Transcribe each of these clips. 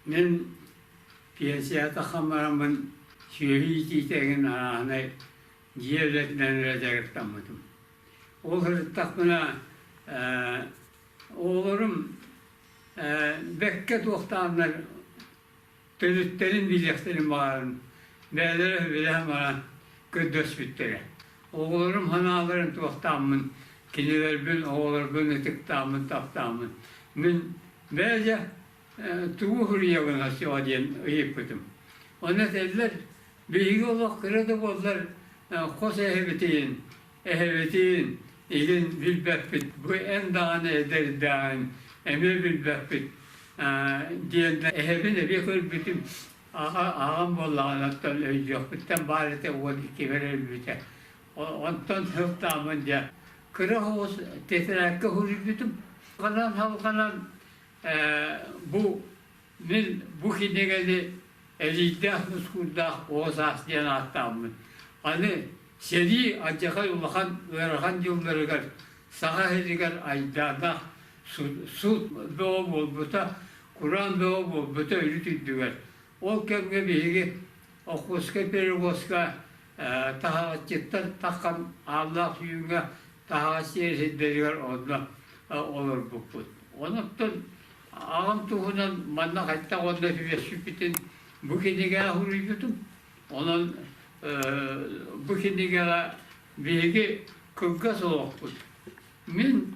Мин пенсията хаммараммын сүөһү иитиитэ эҥин арааһынай дьиэ үлэтинэн эрэ дьарыктаммытым. Ол сырыттахпына оҕолорум бэккэ туохтааннар төрүттэрин билиэхтэрин баҕаран бэйэлэрэ үбүлэһэ-мара көрдөспүттэрэ. Оҕолорум санааларын туохтааммын кинилэрбин, оҕолорбун ытыктааммын, таптааммын мин Бэйэ тугу суруйалыҥа суоҕа диэн ыйыппытым. Ону этэллэр, биһиги олох кыра да буоллар хос эһэбитин, эһэбитин илин билбэппит, бу эн даҕаны эдэрдээҕин эмиэ билбэппит диэн да эһэбин эбиэ көрбүтүм. Аҕам буоллаҕына оттон өйдүөхпүттэн баар этэ уол иккибэр өлбүтэ. Онтон сылтаабын дьэ, кыра оҕус тетрадка уһуруйбутум. Ханан халҕанан бу мин бу кинигэни Элийдээх Нускуурдаах Оҕо саас диэн ааттааммын, аны сэрии алдьархай улахан ыарахан дьылларыгар саха иһигэр айдаана суут бөҕө буолбута, кураан бөҕө буолбута үрүт үрдүгэр. Ол кэмҥэ биһиги Охотскай пирогоска Таһаҕасчыттан таххан ааллаах үүҥҥэ таһаҕас сиэр сирдэригэр онно олорбуппут. Онуттан аҕам туһунан манна хайдах онно түбэспиппитин бу кинигэҕэ суруйбутум. Онон бу кинигэҕэ биһиги кылгас олохпут. Мин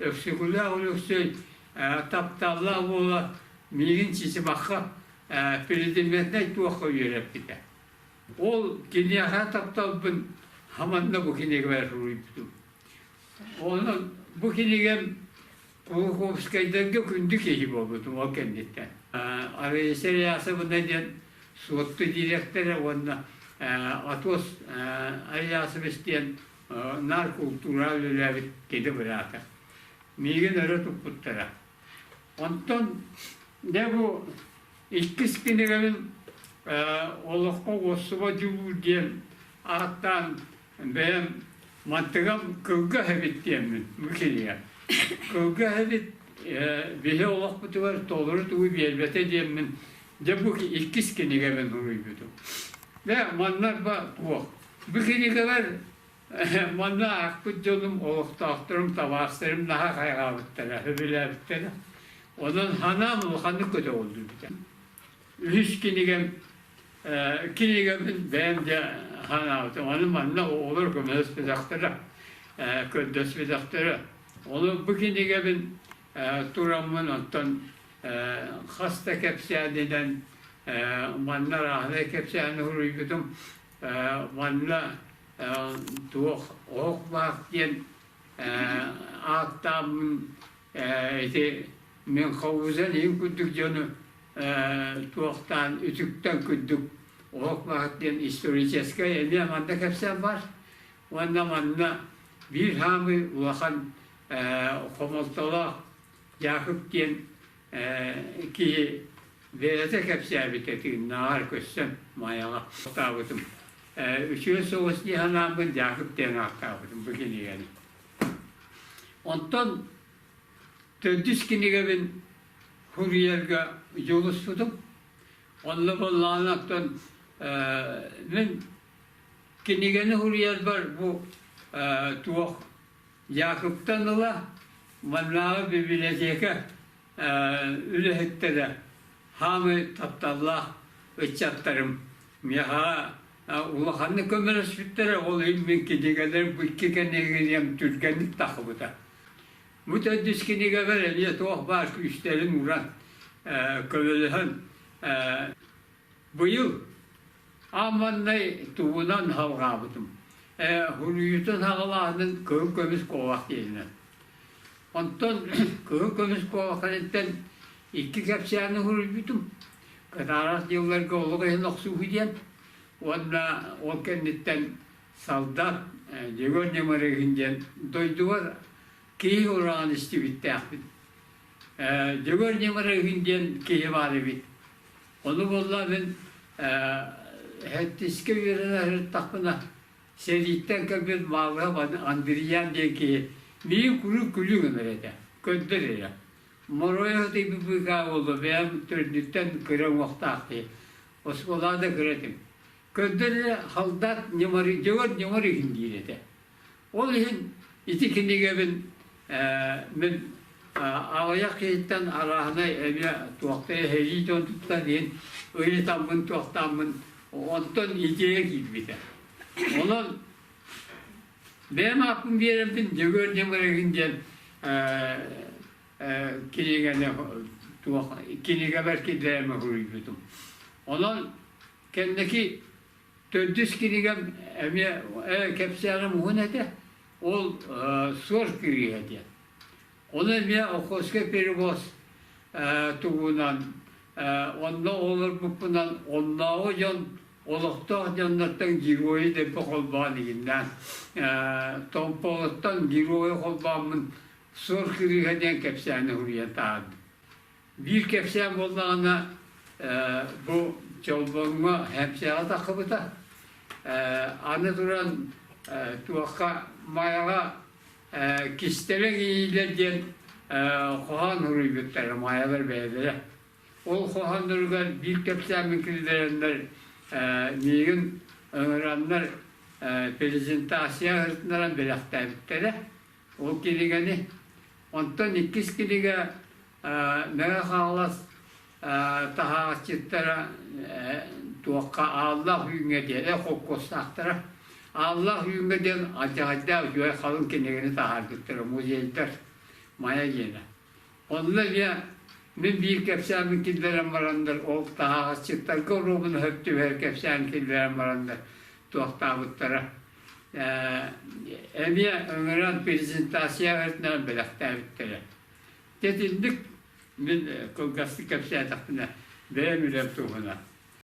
Өксөкүлээх Өлөксөй тапталлаах буола миигин чичибахха президентнай туохха үөрэппитэ. Ол киниэхэ тапталбын хаманна бу кинигабар суруйбутум. Онон бу кинигам Кулаковскайдарга күндү киһи буолбутум ол кэнниттэн. Арыйса Реасовна диэн суотту дириэктэрэ уонна Атос Ариасович диэн наар култуураҕа үлэлээбит идэ быраата. Миигин өрө туппуттара. Онтон дьэ бу иккис кинигэбин олоххо уоссуба дьулуур диэн ааттаан бэйэм мантыгам кылгас эбит диэммин бу кинигэ. Кылгас эбит биһи олохпутугар толору тугу биэрбэтэ диэммин Дьэ бу иккис кинигэбин суруйбутум. Дьэ маннарба туох? Бу кинигэлэр манна аахпыт дьонум, олохтоохторум, табаастарым наһаа хайҕаабыттара, сөбүлээбиттэрэ. Онон санаам улаханнык көтөҕүллү битэ. Үһүс кинигэм кинигэбин бэйэм дьэ санаабытым. Аны манна оҕолор көмөлөспүтэхтэрэ, көрдөспүтэхтэрэ. Ону бу кинигэбин тураммын оттон хас да кэпсээнинэн манна рааһынай кэпсээни суруйбутум манна туох оһох баах диэн ааттааммын ити мин ховузан иһин курдук дьону туохтаан үтүктэн курдук оһох баах диэн историческай эмиэ манна кэпсээн бар Уонна манна биир хаамыы улахан хомолтолоох Дьаакып диэн киһи бэйэтэ кэпсээбитэ тыыннааҕар көрсөн Майаҕа атаабытым. Үчүгэй соҕус дии санааммын Дьаакып диэн ааттаабытым бу кинигэни. Онтон төрдүс кинигэбин суруйарга дьулуспутум. Онно буоллаҕына оттон мин Кинигэни суруйарбар бу туох Якубтан ыла маннааҕы бибилэтиэкэ үлэһиттэрэ хаамыы тапталлаах ыччаттарым миэхэҕэ улаханнык көмөлөспүттэрэ ол иһин мин кинигэлэрим бу икки кинигэм түргэнник тахсыбыта. Бу төрдүс кинигэбэр эмиэ туох баар күүстэрин уран көмөлөһөн быйыл Аамманнай тугунан салҕаабытым, ээ, суруйуутун саҕалааһынын кыһыл көмүс куобах диэбинэ. Онтон кыһыл көмүс куобах кэнниттэн икки кэпсээни суруйбутум. Кытаарас дьылларга олох иһин охсууһу диэн уонна ол кэнниттэн салдар Дьөгүөр Ньамарыгын диэн дойдубар киһи ураҕан истибиттээхпин. Дьөгүөр Ньамарыгын диэн киһи баар эбит. Ону буолла мин һэттискэ үөрэнэ сырыттахпына сэрииттэн кэлбит Маалыһап Андриан диэн киһи миигин куруук күлүү гынар этэ, көрдөр эрэ. Моруойа дыйбы быыкаа буолла, бэйэм төрдүттэн кыра уҥуохтаах киһи. Оскуолаҕа да кыра этим. Көрдөрө Халдаат Ньымарыйдьыгар ньымар иһин диир этэ. Ол иһин ити кинигэбин мин аҕыйах киһиттэн арааһынай эмиэ туохтай эһэйии дьон тутта диэн ыйытаммын туохтааммын онтон идея киирбитэ. Онон бэйэм ааппын биэрэммин Дьөгүөр Ньымарыгын диэн кинигэни туох кинигэбэр киллэриэмэ суруйбутум. Онон Кэнники төрдүс кинигэм эмиэ э, кэпсээҕим уһун этэ. Ол э, суор кириэ диэн. Ону эмиэ Охоска перевоз э, туһунан э, онно олорбуппунан оннооҕу дьон олохтоох дьоннортон геройу дэлби холбоон игиннээн Томпоҕоттон геройу холбооммун Суор кырыыһа диэн кэпсээни суруйан таһаардым. Биир кэпсээн буоллаҕына, бу Чолбоҥҥо Хэмсэҕэ таххыбыта. Аны туран, туохха Майаҕа кистэлэҥ иилэр диэн хоһоон суруйбуттара майалар бэйэлэрэ. Ол хоһоонноругар биир кэпсээммин киллэрэннэр миигин ыҥыраннар презентация ыытынаран бэлэхтээбиттэрэ. Ол кинигэни онтон иккис кинигэ Мэҥэ Хаҥалас таһааччыттара туохха Ааллаах Үүҥҥэ диэри холкуостаахтара. Ааллаах Үүҥҥэ диэн алдьаһайдаах үчүгэй халыҥ кинигэни таһаардыттара музейдар Майа диэнэ. Онно ийэ мин биир кэпсээмин киллэрэн бараннар ол таһааччыттарга оруобуна хөп түбэһэр кэпсээн киллэрэн бараннар туохтаабыттара эмиэ ыҥыран презентация ыытынан бэлэхтээбиттэрэ. Дэтинник мин кылгастык кэпсээтэхпинэ бэйэм үлэм туһунан